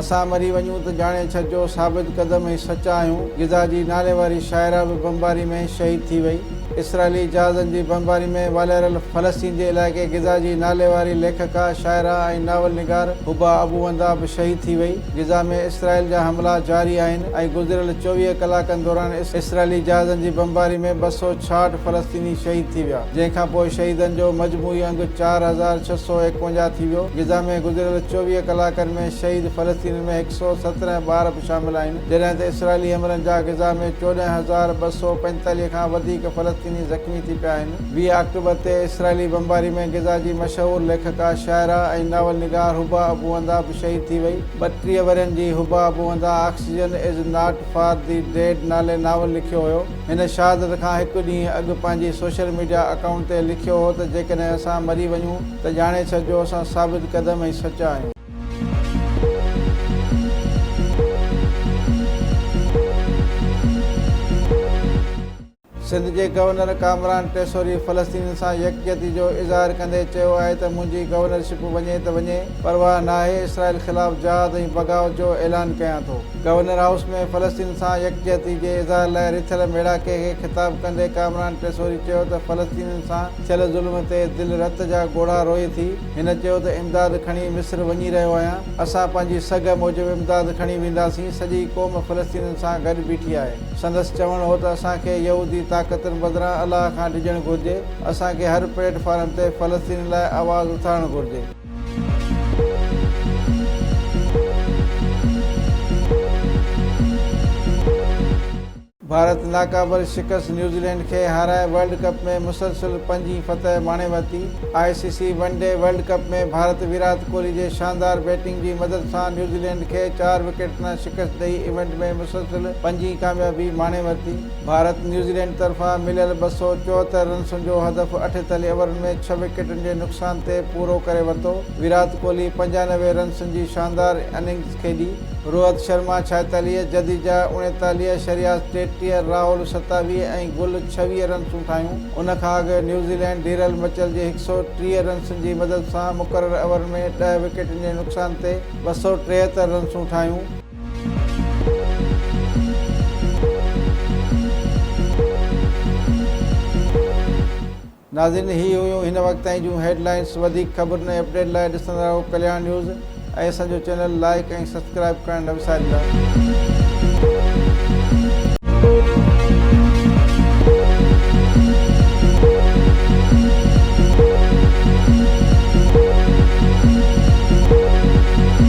اسان مري وڃون ته ڄاڻي ڇڏجو ثابت قدم ۽ سچا آهيون. غزه جي نالي واري شاعره به بمباري ۾ شهيد ٿي وئي. اسرائيلي جهازن جي بمباري ۾ والاريل فلسطين جي علائقي غزه جي نالي واري ليکڪا، شاعره ۽ ناول نگار حبا ابو وندا به شهيد ٿي وئي. غزه ۾ اسرائيل جا حملا جاري آهن ۽ گذريل چوويهه ڪلاڪن دوران اسرائيلي جهازن جي بمباري ۾ ٻه سؤ ڇاهٺ فلسطيني شهيد ٿي ويا جنهن کان پوء شهيدن جو مجموعي انگ چار هزار ڇهه سؤ ايڪونجاهه ٿي ويو. غزه ۾ گذريل چوويهه ڪلاڪن ۾. ۾ شهيد فلسطينين ۾ هڪ سؤ سترهن ٻار به شامل آهن، جڏهن ته اسرائيلي حملن جا غزا ۾ چوڏهن هزار ٻه سؤ پنجيتاليهه کان وڌيڪ فلسطيني زخمي ٿي پيا آهن. ويهه آڪٽوبر تي اسرائيلي بمباري ۾ غزا جي مشهور ليکڪا، شاعره ۽ ناول نگار حبا ابو اندا به شهيد ٿي وئي. ٻٽيهه ورهين جي Heba Abu Nada oxygen is not for the dead نالي ناول لکيو هيو. هن شهادت کان هڪ ڏينهن اڳ پنهنجي سوشل ميڊيا اڪائونٽ تي لکيو هو ته جيڪڏهن اسان مري وڃون ته ڄاڻي ڇڏجو اسان ثابت قدم ۽ سچا آهيون. سنڌ جي گورنر ڪامران ٽيسوري فلسطينين سان يڪجهتي جو اظهار ڪندي چيو آهي ته منهنجي گورنرشپ وڃي ته وڃي پرواهه ناهي اسرائيل خلاف جهاد ۽ بغاوت جو اعلان ڪيان ٿو. گورنر هائوس ۾ فلسطين سان يڪجهتي جي اظهار لاء رٿيل ميڙاڪي کي خطاب ڪندي ڪامران ٽيسوري چيو ته فلسطينين سان ٿيل ظلم تي دل رت جا ڳوڙها روئي ٿي، هن چيو ته امداد کڻي مصر وڃي رهيو آهيان، اسان پنهنجي سگهه موجب امداد کڻي وينداسين، سڄي قوم فلسطينين سان گڏ بيٺي آهي، سندس چوڻ هو ته اسان کي يهودي طاقتن بدران الله کان ڊڄڻ گهرجي، اسان کي هر پليٽ فارم تي فلسطينين لاء آواز اٿارڻ گهرجي. ڀارت ناقابل شڪست نيوزيلينڊ کي هارائي ورلڊ ڪپ ۾ مسلسل پنجين فتح ماڻي ورتي I C C one day World Cup ۾ Bharat Virat Kohli جي شاندار بيٽنگ جي مدد سان نيوزيلينڊ کي چار وڪيٽ تان شڪست ڏئي ايونٽ ۾ مسلسل پنجين ڪاميابي ماڻي ورتي ڀارت نيوزيلينڊ طرفان مليل ٻه سؤ چوهتر رنسن جو هدف اٺيتاليهه اوورن ۾ ڇهه وڪيٽن جي نقصان تي پورو ڪري ورتو، ويرات ڪوهلي پنجانوي رنسن جي شاندار اننگز کيڏي، روهت شرما ڇائيتاليهه، جديجا اڻيتاليهه، شرياس ٽيٽيهه، راهول ستاويهه ۽ گل ڇويهه رنسون ٺاهيون، ان کان اڳ نيوزيلينڊ ڊيرل مچل جي هڪ سؤ ٽيهه رنسن جي مدد سان مقرر اوورن ۾ ڏهه وڪيٽن جي نقصان تي ٻه سؤ ٽيهتر رنسون ٺاهيون. ناظرين هي هيون هن وقت تائين جون هيڊ لائنس وڌيڪ خبرن ۽ اپڊيٽ لاء ڏسندا رهو ڪلياڻ نيوز ۽ اسان جو چينل لائيڪ ۽ سبسڪرائيب ڪرڻ نه وساريندا